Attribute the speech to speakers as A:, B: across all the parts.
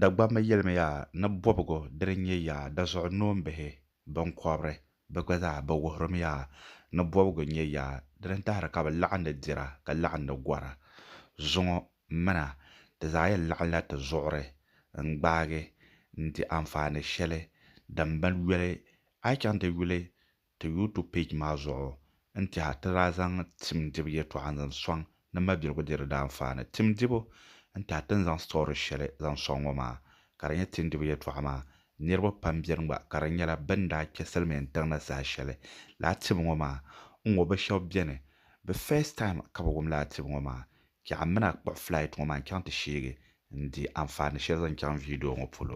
A: Dagbamba yɛlimi yaa ni bɔbigu dini n-nyɛ yaa dazuɣu noombihi biŋkɔbiri bɛ gba zaa bɛ wuhirimi yaa ni bɔbigu n-nyɛ yaa dini n-tahiri ka bɛ laɣindi dira ka laɣindi gɔra. Zuŋɔ mina ti zaa yɛn laɣinla ti zuɣuri n-gbaagi n-di anfaani shɛli din bi yoli a yi chaŋ ti yuli Ti YouTube page maa zuɣu n-tiha ti daa zaŋ tim dibu yɛtɔɣa n-zaŋ sɔŋ ni mabiligu di di daanfaani. Tim dibu n-tiha ti ni zaŋ story shɛli zaŋ sɔŋ ŋɔ maa ka di nyɛ tim dibu yɛtɔɣa maa niriba pam beni gba ka di nyɛla bɛ ni daa kpe Silimiin tiŋ ni saha shɛli laa tim ŋɔ maa n-ŋɔ bɛ shɛba beni bɛ first time ka bɛ wum laa tim ŋɔ maa ka a mini a kpuɣi flight ŋɔ maa n-chaŋ ti sheegi n-di anfaani shɛli zaŋ chaŋ video ŋɔ polo.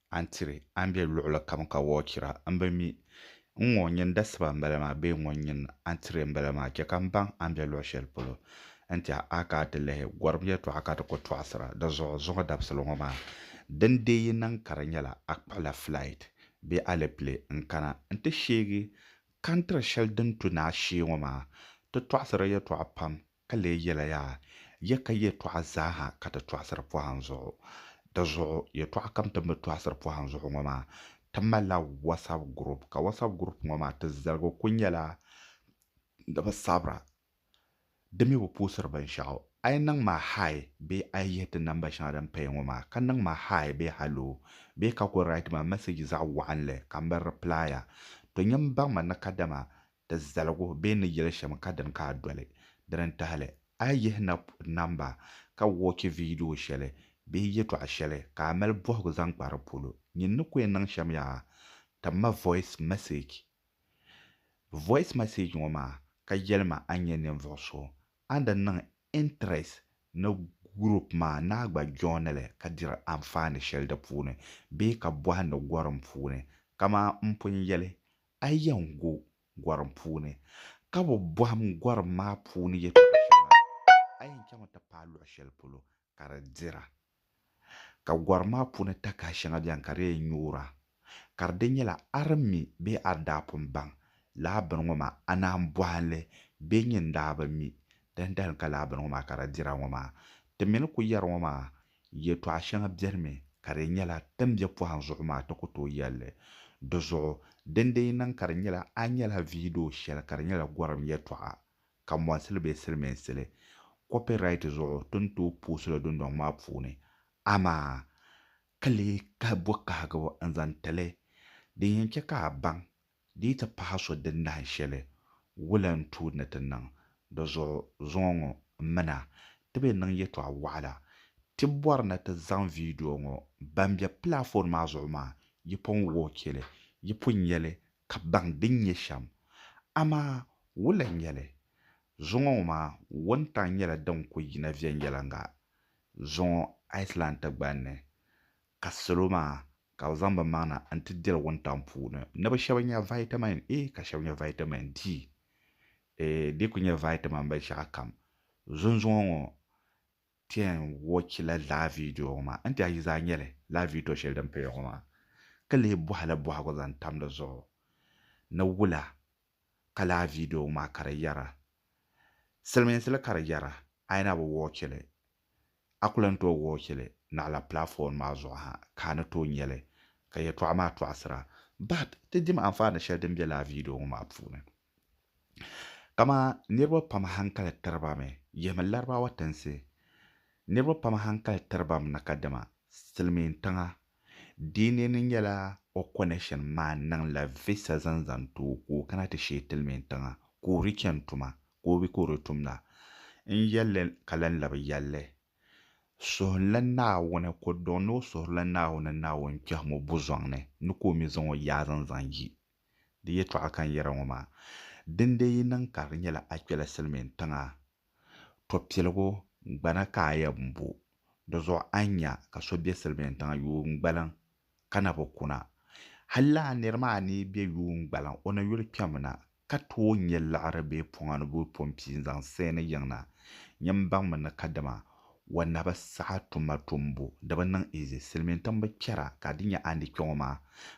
A: a ni tiri a ni be luɣili kam ka wɔɔ chira, m bi mi. N ŋɔ n nyini dasiba m-bala maa bee n ŋɔ n nyini a ni tiri m-bala maa? Chɛ ka m baŋ a ni be luɣ shɛli polo n-tɛha a ka a ti lihi gɔrim yɛtɔɣa ka di ku tɔɣisira. Di zuɣu zuŋɔ dabisili ŋɔ maa, din deei yi niŋ ka di nyɛla a kpuɣila flight bee alepile n-kana nti sheegi kantiri shɛli din tu ni a shee ŋɔ maa. Ti tɔɣisiri yɛtɔɣa pam Ka lee yɛla yaa, ya ka yɛtɔɣa zaa ha ka ti tɔɣisiri pɔhim zuɣu. Di zuɣu, yɛtɔɣa kam ti ni bi tɔɣisiri pɔhim zuɣu ŋɔ maa, ti malila WhatsApp group, ka WhatsApp group ŋɔ maa ti zaligu kuli nyɛla ni bi sabira, di mi bi puhisiri binshɛɣu. A yi niŋ ma Hi bee a yi yihi ti namba shɛŋa din paya ŋɔ maa, ka niŋ ma Hi bee Hallo bee ka kuli write ma message zaɣ waɣinli ka m bi reply a, to nyini baŋ ma ni kadama Di zaligu bee ni yeli shem ka dini ka a doli. Dini n tahili, a yi yihi nap namba ka wɔchi viidiyo sheli bee yetɔɣa sheli ka a mali bɔhigu zaŋ kpa di polo, nyin ni ku yen niŋ shem yaa, tim ma voice message. Voice message ŋɔ maa ka yeli ma a nyɛ ninvuɣu so, a ni daa niŋ interest ni group maa ni a gba joini li ka diri anfaani sheli di puuni bee ka bɔhindi gorim puuni. Kaman m pun yeli A yɛn gu gɔrim puuni, ka bi bɔhim gɔrim maa puuni yɛtɔɣ shɛŋa, a yɛn chaŋmi ti paai luɣ shɛli polo ka di dira. Ka gɔrim maa puuni takahi shɛŋa beni ka di yɛn nyoora, ka di di nyɛla a di mi bee a di daa pun baŋ lala bini ŋɔ maa, a naan bɔhi li bee nyin daa bi mi dindali ka lala bini ŋɔ maa ka di dira ŋɔ maa? Ti mi ni ku yɛri ŋɔ maa, Yɛtɔɣ shɛŋa bɛrimi ka di nyɛla din be pɔhim zuɣu maa ti ku tooi yɛli li. Di zuɣu, din di yi niŋ ka di nyɛla a nyɛla viidiyo shɛli ka di nyɛla gɔrim yɛtɔɣa, ka mɔnsi li bee silimiinsi li, kɔpiraiti zuɣu ti ni tooi poosi li dundɔŋ maa puuni. Amaa! Ka lee kahi bɔkahigibu n-zaŋ ti li. Din yɛn chɛ ka a baŋ Di yi ti pahi so din nahin shɛli, wula n-tuui ni ti niŋ di zuɣu zuŋɔ ŋɔ m-mina? Ti be niŋ yɛtɔɣ wɔɣila. Ti bɔri ni ti zaŋ viidiyo ŋɔ ban be pilaafon maa zuɣu maa, yi pun wɔɔchi li, yi pun nya li ka baŋ din nyɛ shɛm. Amaa wula n-nyɛ li? Zuŋɔ ŋɔ maa wuntaŋ nyɛla din ku yina viɛnyɛliŋga zuŋɔ Iceland tigbani ni. Ka salo maa ka bɛ zaŋ bɛ maŋna n-ti diri wuntaŋ puuni ni bɛ shɛba nya vitamin A ka shɛba nya vitamin D eeh di ku nyɛ vitamin binshɛɣu kam. Zunzuŋɔ ŋɔ ti yɛn watch la laa video ŋɔ maa n-ti a yi zaa nya li laa video shɛli din paya ŋɔ maa ka leei bɔhi li bɔhigu zaŋ tam di zuɣu ni wula ka laa video ŋɔ maa ka di yɛra. Silimiinsi li ka di yɛra a yi na bi watch li A ku lan tooi wuhi cheli naɣila platform maa zuɣu ha ka a ni tooi nyeli ka yɛltɔɣa maa tɔɣisira. But ti dim anfaani sheli din be lala video ŋɔ maa puuni. Kama niriba pam hankali tiribami yihimi Larabawa tinsi. Niriba pam hankali tiribami na kadama silimiin tiŋa. Di ni ni nyela o connection maa niŋla visa zaŋ zaŋ ti o ka o kana ti sheei tilimiin tiŋa ka o reach yɛn tuma ka o bi ka o di tum na. N yɛl li ka lan labi yɛl li, Suhunli Naawuni ku dɔŋ ni o suhirila Naawuni Naawuni kpɛhim o buzɔŋ ni, ni ka o mi zaŋ o yaazin zaŋ yi. Di yɛtɔɣa ka n yɛra ŋɔ maa, dindee yi niŋ ka di nyɛla a kpɛla silimiin tiŋa, tɔ piligu gbana ka a yɛn bo, dizuɣu a ni nya ka so be silimiin tiŋa yuun gbaliŋ ka na bi kuna. Halla a nir maa ni be yuun gbaliŋ o na yuli kpɛm na, ka tooi nya liɣiri bee pɔŋa ni boi pɔmpi n-zaŋ saɛ ni yiŋ na. Nyɛ m baŋmi ni kadama wanabi saha tuma tumbu di bi niŋ izi, silimiintiŋ bi kpɛra ka di nya a ni kpɛ ŋɔ maa,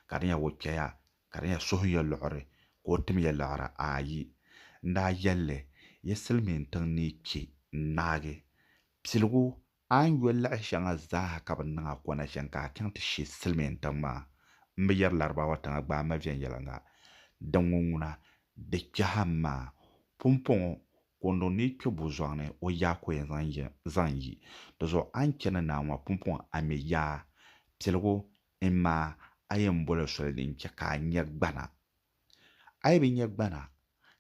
A: ka di nya o kpɛya, ka di nya suhu ya luɣiri ka o tim ya liɣiri. Aayi! N daa yɛl li, Yi silimiintiŋ ni kpɛ n-ŋmaagi piligu A ni yuli laɣi shɛŋa zaaha ka bɛ niŋ a kɔna chani ka a chaŋ ti she silimiintiŋ maa. M bi yɛri Laribaawa tiŋa gbaai ma viɛnyɛliŋga din ŋɔ ŋuna, di kpɛha m ma. Pumpɔŋɔ, Kondo ni yi kpe bo zɔŋ ni, o yaa ko yɛn zaŋ yi. Di zuɣu a ni chani naai ŋɔ, Pumpɔŋɔ a mi yaa. Piligu, Imaa, a yɛn boli soli din chɛ ka a nya gbana. A yi bi nya gbana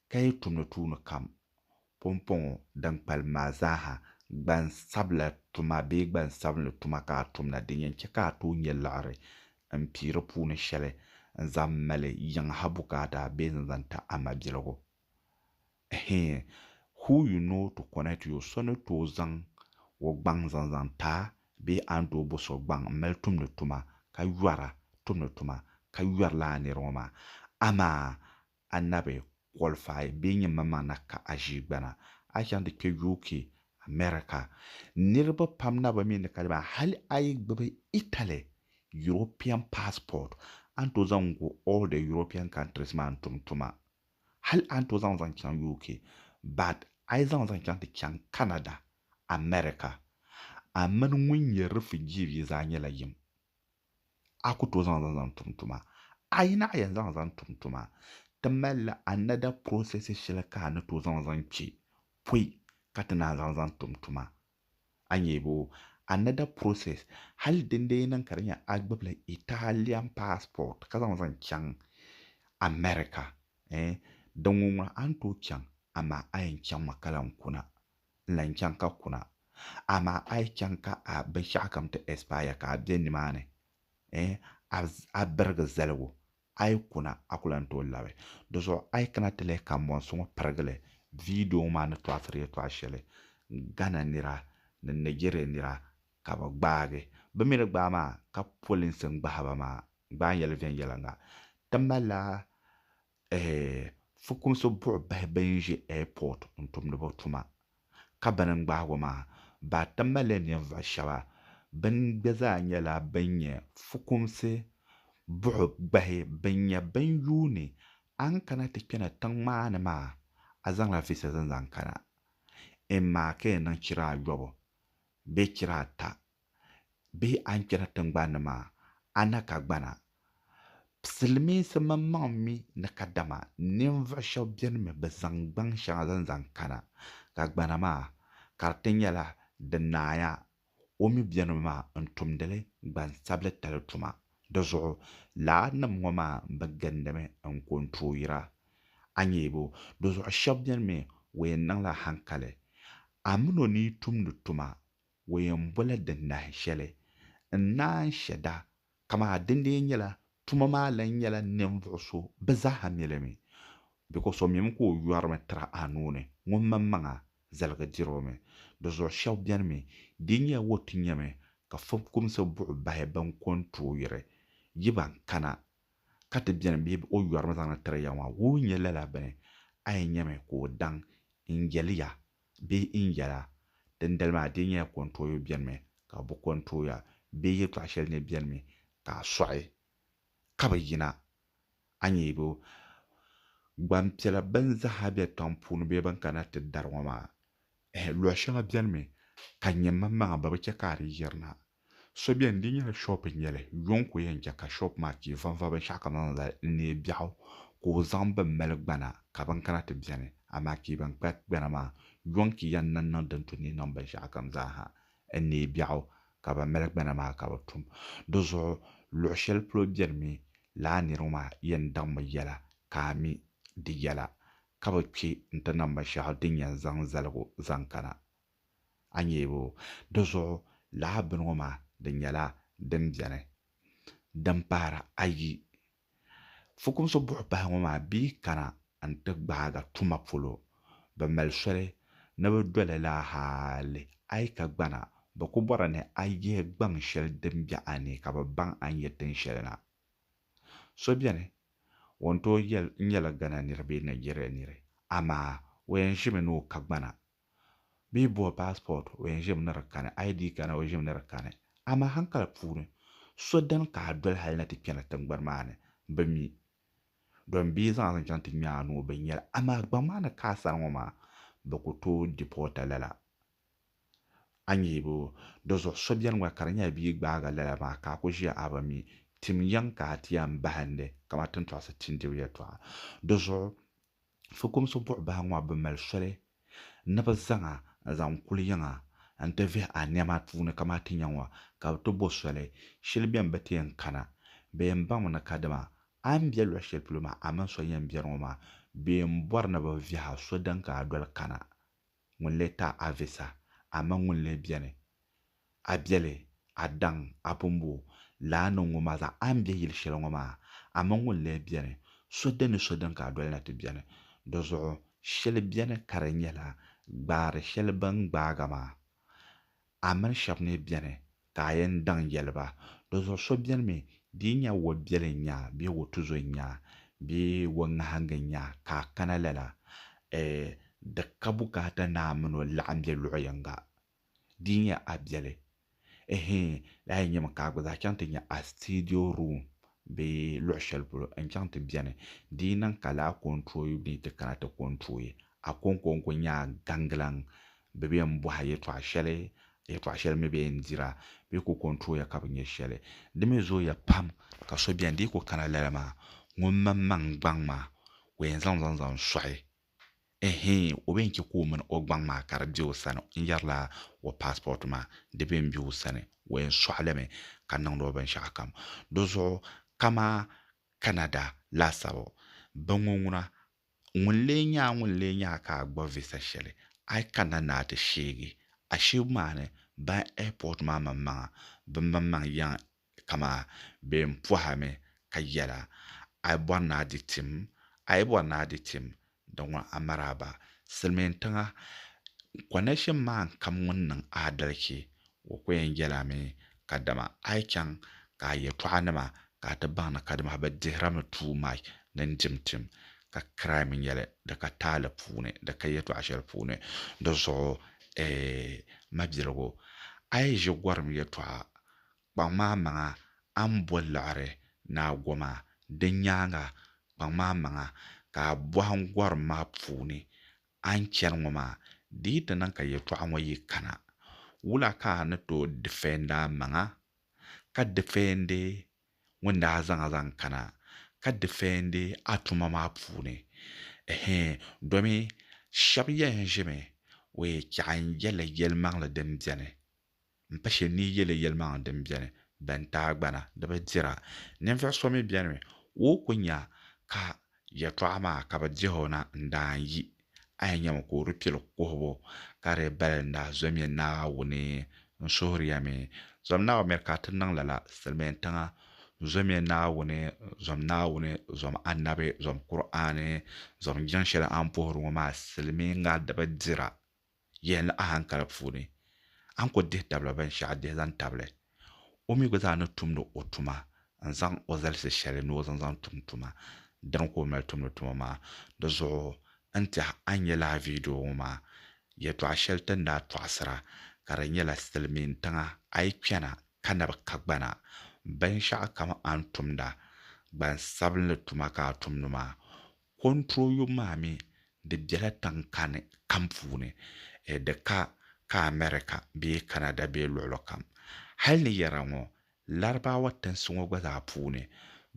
A: ka yi tumdi tuuni kam, pumpɔŋɔ din kpalim maa zaaha, gbansabila tuma bee gbansabinli tuma ka a tumda, din yɛn chɛ ka a tooi nya liɣiri m-pii di puuni shɛli n-zaŋ mali yiŋ ha bukaata bee n-zaŋ ti a mabiligu. Hee, who you know to connect you, so ni tooi zaŋ o gbaŋ zaŋ zaŋ ti a bee a ni tooi bo so gbaŋ m-mali tumdi tuma ka yɔra tumdi tuma ka yɔri lala nir ŋɔ maa? Amaa a na bi qualify bee nyin maŋmaŋ na ka a ʒii gbana a chaŋ ti kpe UK, America. Niriba pam na bi mi ni ka di maa. Hali a yi gbibi Italy European passport a ni tooi zaŋ go all the European countries maa n-tum tuma. Hali a ni tooi zaŋ zaŋ chaŋ UK but a yi zaŋ zaŋ chaŋ ti chaŋ Canada, America, a mini ŋun nyɛ refugee bia zaa nyɛla yim. A ku tooi zaŋ zaŋ zaŋ tum tuma. A yi naɣi yɛn zaŋ zaŋ tum tuma, ti malila another process shɛli ka a ni tooi zaŋ zaŋ kpe pɔi ka ti naan zaŋ zaŋ tum tuma a nyɛ bo another process hali din dee niŋ ka di nyɛ a gbibila Italian passport ka zaŋ zaŋ chaŋ America eh din ŋun ŋɔ a ni tooi chaŋ amaa a yɛn chaŋ mi ka lan kuna n lan chaŋ ka kuna amaa a yi chaŋ ka a binshɛɣu kam ti expire ka a bɛ nimaani eh a birigi zaligu A yi kuna, a ku lan tooi labi. Di zuɣu a yi kana ti lihi kambɔnsi ŋɔ pirigili, viidiyo ŋɔ maa ni tɔɣisiri yɛtɔɣ shɛli Ghana nira ni Nigeria nira ka bɛ gbaagi. Bɛ mi ni gbaai maa ka polinsi n-gbahi ba maa gbaai yɛli viɛnyɛliŋga. Ti malila eeh fukumsi buɣibahi bɛn ʒe airport n-tumdi bɛ tuma. ka bɛ ni ŋmahigu maa baa ti mali ninvuɣ shɛba bɛn gba zaa nyɛla bɛn nyɛ fukumsi buɣi gbahi bɛn nyɛ bɛn yuuni a ni kana ti kpɛna tiŋ maa ni maa, a zaŋla visas n-zaŋ kana? Imaa ka yi niŋ chira ayɔbu bee chira ata bee a ni kpɛri tiŋgbani ni maa, a na ka gbana. Silimiinsi mini maŋ mi ni kadama ninvuɣ shɛb beni mi bɛ zaŋ gbaŋ shɛŋa zaŋ zaŋ kana, ka gbana maa ka di ti nyɛla di naaya o mi beni mi maa n-tumdi li gbansabilitali tuma. Di zuɣu laannim ŋɔ maa bi gindimi n-ku n-tooi yira. A nya yi bo? Di zuɣu shɛb beni mi o yɛn niŋla haŋkali. A min o ni yi tumdi tuma O yɛn bɔla di nahin shɛli n-naan shɛda, kamaa di lee nyɛla tuma maa lan nyɛla ninvuɣ so bi zaaha mi li mi, bikos o mim ka o yɔrimi tira a nuu ni, ŋun maŋmaŋa zaligi dir o mi. Di zuɣu shɛb beni mi, di nyɛla o ti nyami ka fukpumsi buɣi bahi bɛn ko n-tooi yiri, yi ban kana, ka ti beni bee bɛ o yɔrimi zaŋdi tiri ya maa, wuhi nyɛ lala bɛ ni, a yi nyami ka o daŋ n-yɛli ya Bee n yɛla, Dindali maa di nyɛla kɔntooyo bɛnimi ka bɛ bi kɔntooya, bee yɛltɔɣ shɛli ni bɛnimi ka a sɔɣi ka bi yina? A nyɛ bɛ gbampiɛla bɛn zaaha be tiŋ puuni bee bɛn kana ti dari ŋɔ maa? Ɛhɛ, luɣ shɛŋa bɛnimi ka nyɛ mammaŋa bɛ bi chɛ ka a di yirina. So beni di nyɛla shop n nyɛli yuŋ ka o yɛn che ka shop maa chee vanva binshɛɣu kamani lala n neei biɛɣu ka o zaŋ bin mali gbana ka bin kana ti beni amaa chee ban kpa gbana maa yuŋ ka yɛn niŋ niŋ din tu ni niŋ binshɛɣu kam zaa ha n neei biɛɣu ka ban mali gbana maa ka bɛ tum di zuɣu luɣi shɛli polo beni mi lala niri ŋɔ maa yɛn daŋ mi yɛla ka a mi di yɛla ka bi kpe n ti niŋ binshɛɣu din yɛn zaŋ zaligu zaŋ kana a nyeebu. Di zuɣu lahi bini ŋɔ maa di nyɛla din beni din pahiri ayi. Fukumsi buɣipahi ŋɔ maa bɛ yi kana n-ti gbaaga tuma polo bɛ mali soli ni bɛ do li la hali a yi ka gbana bɛ ku bɔri ni a yihi gbaŋ shɛli din be a ni ka bɛ baŋ a ni nyɛ tin shɛli na. So beni o ni tooi yɛli n nyɛla Ghana niri bee Nigeria niri amaa o yɛn ʒimi ni o ka gbana bɛ yi bo passport o yɛn ʒimi ni di kani ID kana o ʒimi ni di kani amaa hankali puuni so dini ka a doli hali ni ti kpɛri tiŋgbani maa ni bɛ mi domi bɛ yi zaŋ a zaŋ chaŋ ti ŋmɛ a nuu bɛ ni nyɛli amaa gbaŋ maa ni ka a sani ŋɔ maa bɛ ku tooi deport a lala a nya yi boo di zuɣu so beni gba ka di nyɛla bɛ yi gbaagi a lala maa ka a ku ʒiya a bi mi tim yiŋ ka a ti yɛn bahindi kamani tintɔɣisi tindibu yɛltɔɣa di zuɣu Fukumsi buɣ bahi ŋɔ bi mali soli ni bɛ zaŋ a zaŋ kuli yiŋa n-ti vihi a nɛma puuni kamaa ti nya ŋɔ, ka bɛ ti bo soli shili bɛn bi ti yɛn kana. Bɛ yɛn baŋmi ni kadama a ni be luɣ shɛli polo maa a mini so yɛn biɛri ŋɔ maa, bɛ yɛn bɔri ni bɛ vihi a so din ka a doli kana. ŋun lee ta a visa, amaa ŋun lee beni a biɛli, a daŋ a bumbu laa ni ŋun maa zaŋ a m-be yil shɛli ŋɔ maa, amaa ŋun lee beni so din ni so din ka a doli na ti beni. Di zuɣu shɛli beni ka di nyɛla gbaari shɛli bɛ ni gbaag a maa A mini shɛb ni beni ka a yɛn daŋ yɛli ba, Dinzuɣu so beni mi, di yi nya wo biɛli n-nya bee wo tuzo n-nya bee wo ŋahiŋga n-nya ka a kana lala, e di ka bukaata ni a min o laɣim be luɣ yiŋga. Di yi nya a biɛli, ehe, lahi nyami ka a gba zaa chaŋ ti nya a studio room bee luɣ shɛli polo n chaŋ ti beni, di yi niŋ ka laa kɔntooyi ni ti kana ti kɔntooyi a kɔŋkɔŋko nyaa gaŋgilaŋ, bɛ bi yɛn bɔhi a yɛtɔɣ shɛli, yɛtɔɣ shɛli mi bi yɛn dir a, bɛ ku kɔntooya ka bi nya shɛli. Di mi zooya pam ka so beni di yi ku kana lala maa, ŋun maŋmaŋ gbaŋ maa ka o yɛn zaŋ zaŋ zaŋ sɔɣi Ɛhɛɛn, o bɛn chɛ ka o mini o gbaŋ maa ka di be o sani n-yɛrila o paasipɔti maa di bɛn be o sani, o yɛn sɔɣi li mi ka niŋdi o binshɛɣukam. Di zuɣu kama Canada laasabu, bɛ ŋɔ ŋuna, ŋun lee nya a ŋun lee nya a ka a gba visa shɛli, a yi kanna ni a ti sheegi a sheebu maa ni, ban ɛipɔti maa maŋmaŋa bɛ maŋmaŋ yɛn Dama bɛ ni pɔhimi ka yɛla, A yi bɔri ni a di tim, a yi bɔri ni a di tim, di ŋɔ a maraaba. Silimiintiŋa kɔnɛshin maan kam ŋun niŋ aadalichi, o ko yɛn yɛla mi, kadama a yi chaŋ ka a yɛtɔɣanima ka a ti baŋ ni kadama bɛ dihirimi too much ni n-dim tim, ka crime nyɛ li di ka taali puuni, di ka yɛtɔɣ shɛli puuni. Di zuɣu, A mabiligu, a yi ʒi gɔrim yɛtɔɣa, Kpaŋmaamaŋa, a ni bo liɣiri ni a goma, di nyaaŋa, kpaŋmaamaŋa, ka a bɔhi n gɔrim maa puuni, A ni chani ŋɔ maa, di yi ti niŋ ka yɛtɔɣa ŋɔ yi kana, wula ka a ni tooi difɛndi a maŋa, ka difɛndi ŋun daa zaŋ a zaŋ kana, ka difɛndi a tuma maa puuni? Ɛhɛin, domi shɛba yɛn ʒimi, wee, chɛɣu n-yɛli yɛlimaŋli din beni M pa shɛli ni yi yɛli yɛlimaŋli din beni bɛn tahigbana di bi dira. Ninvuɣ so mi beni mi o yi ku nya ka yɛtɔɣa maa ka bɛ dihi o na n-daan yi, a yi nyami ka o di pili kuhibu, ka di bali n daa zomiya Naawuni. N suhiriya mi, zom Naawuni mi ka ti niŋ lala silimiintiŋa. N zomiya Naawuni, zom Naawuni, zom Annabi, zom Kur'aani, zom jiŋ shɛli a ni puhiri ŋɔ maa silimiiŋa di bi dira. Yihi ni ahankali puuni, a ni ku dihi tabila binshɛɣu dihi zaŋ tabili, o mi gba zaa ni tumdi o tuma n-zaŋ o zalisi shɛli ni o zaŋ zaŋ tum tuma. Dina ka o mali tumdi tuma maa. Di zuɣu n tɛha a ni nya lala viidiyo ŋɔ maa, yɛtɔɣ shɛli ti ni daa tɔɣisira ka di nyɛla Silimiintiŋa a yi kpɛna ka na bi ka gbana, binshɛɣu kam a ni tumda, gbansabinli tuma ka a tumdi maa, Control yom maa mi di bela tiŋkani kam puuni, di ka ka America bee Canada bee luɣili kam. Hali ni yɛra ŋɔ Larabawa tinsi ŋɔ gba zaa puuni,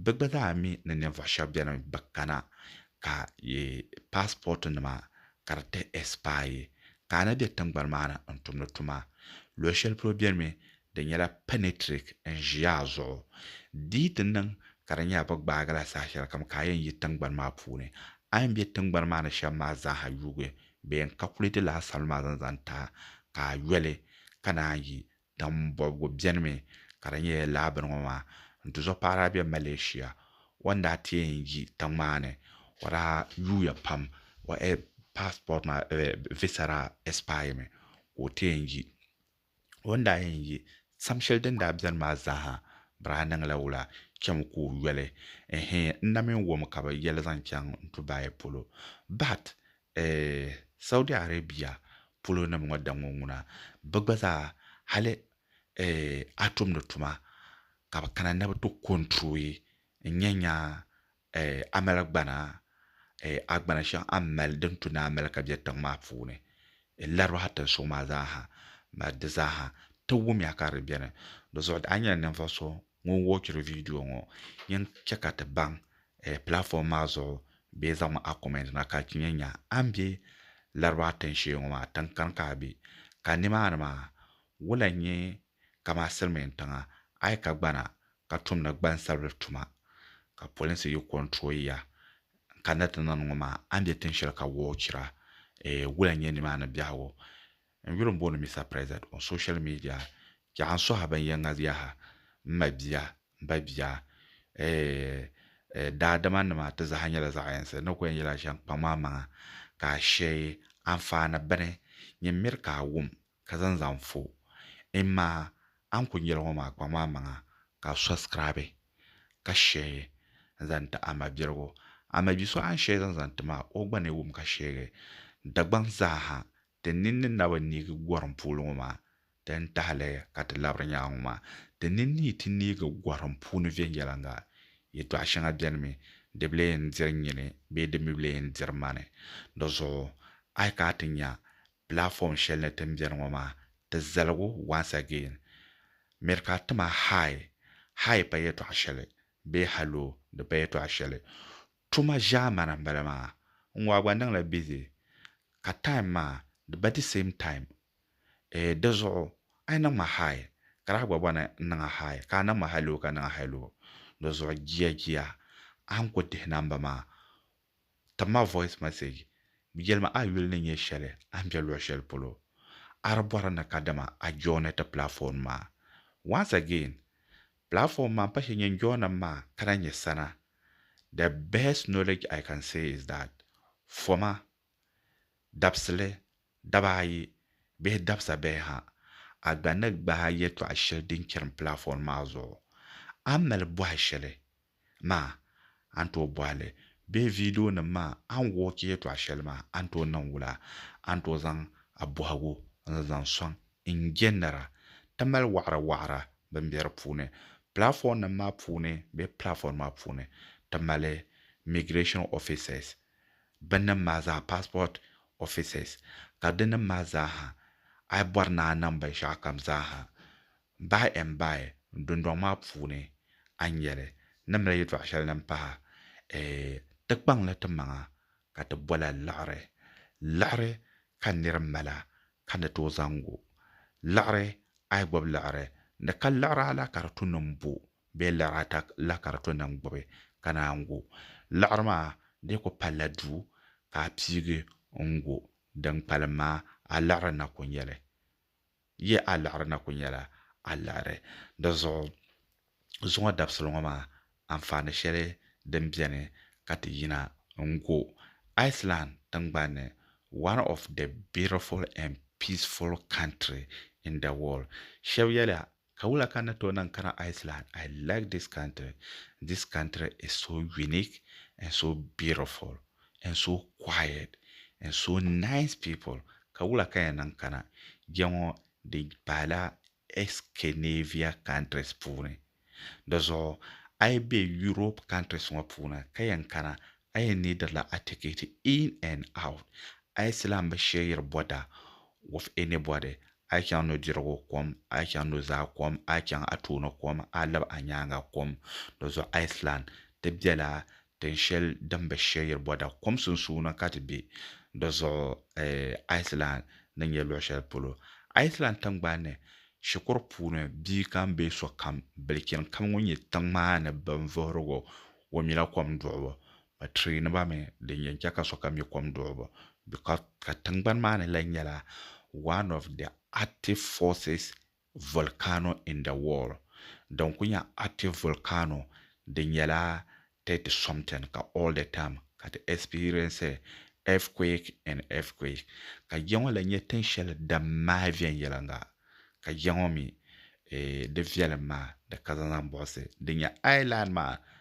A: bɛ gba zaa mi ni ninvuɣ shɛba beni bɛ kana ka passport nima ka di ti ɛsipaai yi, ka a na be tiŋgbani maa ni n-tumdi tuma. Luɣ shɛli polo beni mi di nyɛla pɛnɛtirik n-ʒi a zuɣu. Di yi ti niŋ ka di nyɛla bɛ gbaagi la saha shɛlikam ka a yɛn yi tiŋgbani maa puuni, a yɛn be tiŋgbani maa ni shɛm maa zaaha yuugi bee n-kakulɛti lala salima maa zaŋ zaŋ ti a, ka a yoli ka naan yi Tiŋ bɔbigu bɛnimi ka di nyɛ lala bini ŋɔ maa n-tuzo paɣira be Malaysia. O ni daa ti yɛn yi tiŋ maa ni o daa yuuya pam o passport maa visa daa expire mi ka o ti yɛn yi. O ni daa yɛn yi sam shɛli din daa bɛni maa zaa ha bɛ daa niŋla wula chami ka o yoli ɛhɛɛ n na mi wɔmi ka bɛ yɛli zaŋ chaŋ Dubai polo but Eeh, Saudi Arabia polo nim ŋɔ daŋɔ ŋuna, bɛ gba zaa hali eeh a tumdi tuma ka bɛ kana ni bɛ ti control n nyɛ nya eeh amali gbana eeh agbana shɛŋa a ni mali din tu ni a mali ka bɛ tiŋ maa puuni eeh Larabaha tinsuŋ maa zaa ha, di zaa ha ti wumya ka di beni. Di zuɣu a nyɛla ninvuɣu so ŋun wɔchiri viidiyo ŋɔ yɛn chɛ ka ti baŋ pilaatfom maa zuɣu bee zaŋ mi a kɔmɛnt na ka ti yɛn nya a ni be Laraba tiŋshee ŋɔ maa tiŋkani ka a be ka nimaani maa wula n-nyɛ kaman silimiintiŋa a yi ka gbana ka tumdi gbansabili tuma ka polinsi yi kɔnturoyi ya n-kanna ti niŋdi ŋɔ maa a ni be tiŋshɛli ka wɔchira wula n-nyɛ nimaani biɛhigu N yuli m-booni Mister President on social media ka a sɔhi binyɛŋa yaha, m ma bia, m ba bia, eeh daadama nima ti zaa nyɛla zaɣ yinsi n ni ku yɛn yɛli a shɛm kpaŋ maa maŋa ka a shee anfaani bini nyɛ miri ka a wum ka zaŋ zaŋ fo n ma a ni ku yɛli ŋɔ maa kpaŋ maa maŋa ka a sɔsikiraabi ka shee n zaŋ ti a ma biligu a ma bi so a ni shee zaŋ zaŋ ti maa o gba ni wum ka sheegi Dagbaŋ zaa ha Ti nini ni na bi neegi gɔrim pooli ŋɔ maa di ni tahi li ka ti labiri nyaŋa ŋɔ maa, ti ni niyi ti neegi gɔrim puuni viɛnyɛliŋga. Yɛtɔɣ shɛŋa bɛnimi di bi lee yɛn diri nyini bee di mi bi lee yɛn diri mani. Di zuɣu a yi kana ti nya platform shɛli ni ti ni beni ŋɔ maa, ti zaligu once again. Mirikaa tima hi, hi pa yɛtɔɣ shɛli bee hello di pa yɛtɔɣ shɛli. Tuma zaa mana n bala maa n ŋɔ a gba niŋla busy ka time maa di ba the same time eh di zuɣu a yi niŋ ma hi ka daa gba bɔni n niŋ a hi ka a niŋ ma hello ka niŋ a hello di zuɣu jia jia a ni ku dihi namba maa tim ma voice message yɛli ma a yuli ni nyɛ shɛli a ni be luɣ shɛli polo a di bɔri ni kadama a joini ti platform maa once again platform maa m pa shee nyɛ n joini mi maa ka daa nyɛ sana the best knowledge I can say is that foma, dabisili, daba ayi bihi dabisa bihi ha, a gba ni gbaai yɛtɔɣ shɛli din chirim platform maa zuɣu, a ni mali bɔhi shɛli maa a ni tooi bɔhi li bee videonim maa a ni wɔchi yɛtɔɣ shɛli maa a ni tooi niŋ wula a ni tooi zaŋ a bɔhigu n-zaŋ sɔŋ n-je nira ti mali waɣiri waɣira bɛn be di puuni platformnim maa puuni bee platform maa puuni ti mali migration officers bɛnnim maa zaa passport officers ka dinim maa zaaha a yi bɔri ni a niŋ binshɛɣukam zaaha by and by dundɔŋ maa puuni a ni nya li ni mali yɛtɔɣ shɛli din pahi eeh ti kpaŋ li ti maŋa ka ti bol a liɣiri liɣiri ka nir mala ka ni tooi zaŋ o liɣiri a yi gbubi liɣiri ni ka liɣiri ala ka di to nim bo bee liɣiri ata la ka di to nim gbubi ka naan gu liɣiri maa di yi ku palila duu ka a piigi n gu din kpalim maa a liɣiri na ku nyɛli yi a liɣiri na ku nyɛla a liɣiri di zuɣu Zuŋɔ dabisili ŋɔ maa anfaani shɛli din beni ka ti yina n-go. Iceland tiŋgbani ni, one of the beautiful and peaceful country in the world. Shɛba yɛliya, Ka wula ka n ni tooi niŋ kana Iceland? I like this country. This country is so unique and so beautiful and so quiet and so nice people. Ka wula ka n yɛn niŋ kana? Jɛŋɔ di paai la Scandinavia countries puuni. Di zuɣu a yi be Europe countries ŋɔ puuni ka yɛn kana a yɛn needi la a ticket in and out. A yi silan bi sheyiri bother with anybody, a yi chaŋ nudirigu kom, a yi chaŋ nuzaa kom, a yi chaŋ a tooni kom, a yi lab a nyaaŋa kom, di zuɣu a yi silan ti bela Tin shɛli din be Sheyir Bɔda kom sunsuuni ka ti be, di zuɣu Iceland ni nyɛ luɣ shɛli polo. Iceland tiŋgbani ni, shikuru puuni bia kam bee sokam bilichini kam ŋun nyɛ tiŋ maa ni binvuhirigu, o nyɛla kom duɣibu. Bɛ tireeni ba mi din yɛn chɛ ka sokam nyɛ kom duɣibu bɛ ka tiŋgbani maa ni lahi nyɛla one of the active forces Volcano in the world, din ku nyɛ active volcano, di nyɛla thirty something ka all the time ka ti experience earthquake and earthquake. Ka ya ŋɔ lahi nyɛ tin shɛli din maai viɛnyɛliŋga, ka ya ŋɔ mi ee di viɛlim maa di ka zaŋ zaŋ buɣisi di nya island maa